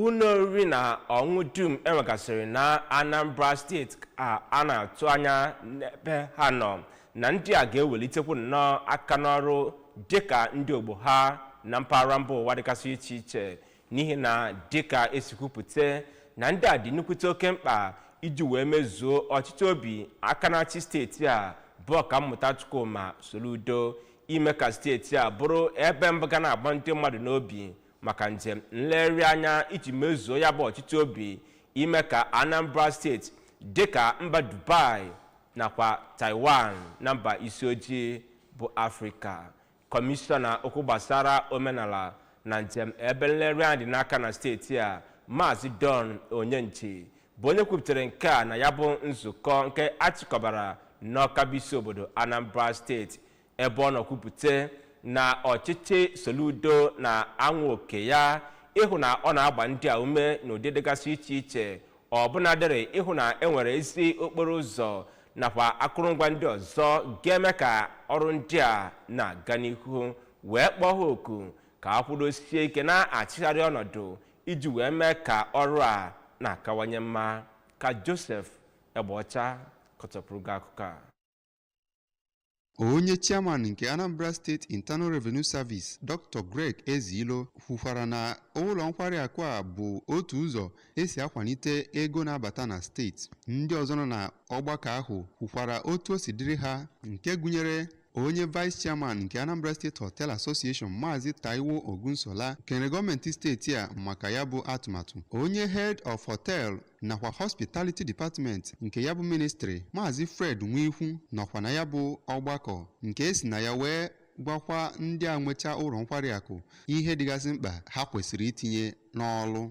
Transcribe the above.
ụlọ oriri na ọṅụṅụ dum enwegasịrị na anambra steeti ka a na-atụ anya n'ebe ha nọ na ndị a ga-ewelitekwu nnọọ aka n'ọrụ dịka ndị ogbo ha na mpaghara mba ụwa dịgasị iche iche n'ihi na dịka esi kwupụta na ndị a dị nnukwute oke mkpa iji wee mezuo ọchịchọ obi aka na-achị steeti a bụ ọkammụta Chukwuma Soludo ime ka steeti a bụrụ ebe mbụ ga na-agba ndị mmadụ n'obi maka njem nlegharị anya iji mezuo ya bụ ọchịchọ obi ime ka anambra steeti dịka mba dubai nakwa taiwan na mba isi ojii bụ afrịka kọmishọna okwu gbasara omenala na njem ebe nlegharị anya dị n'aka na steeti a maazị don onyenji bụ onye kwupụtara nke a na ya bụ nzukọ nke achịkọbara n'ọka bụ isi obodo anambra steeti ebe ọ nọ kwupụta na ọchịchị Soludo na-anwa oke ya ịhụ na ọ na-agba ndị a ume n'ụdị dịgasị iche iche ọbụnadịrị ịhụ na e nwere ezi okporo ụzọ nakwa akụrụngwa ndị ọzọ ga-eme ka ọrụ ndị a na-aga n'ihu wee kpọọ ha oku ka a kwụdosie ike na-achịgharị ọnọdụ iji wee mee ka ọrụ a na-akawanye mma ka Joseph Egbeọcha kọtọpụrụ gị akụkọ a Onye chairman nke Anambra State Internal Revenue Service Dr. Greg Ezeilo kwukwara na ụlọ nkwari akụ a bụ otu ụzọ esi akwalite ego na-abata na steeti. Ndị ọzọ nọ na ọgbakọ ahụ kwukwara otu o si dịrị ha nke gụnyere onye vice chairman nke Anambra State Hotel Association Maazị Taiwo Ogunsola kelere gọọmenti steeti a maka ya bụ atụmatụ onye head of hotel nakwa hospitality department nke ya bụ ministri maazị fred nwikwu nọkwa na ya bụ ọgbakọ nke esi na ya wee gwakwa ndị a nwecha ụlọ nkwari akụ ihe dịgasị mkpa ha kwesịrị itinye n'ọlụ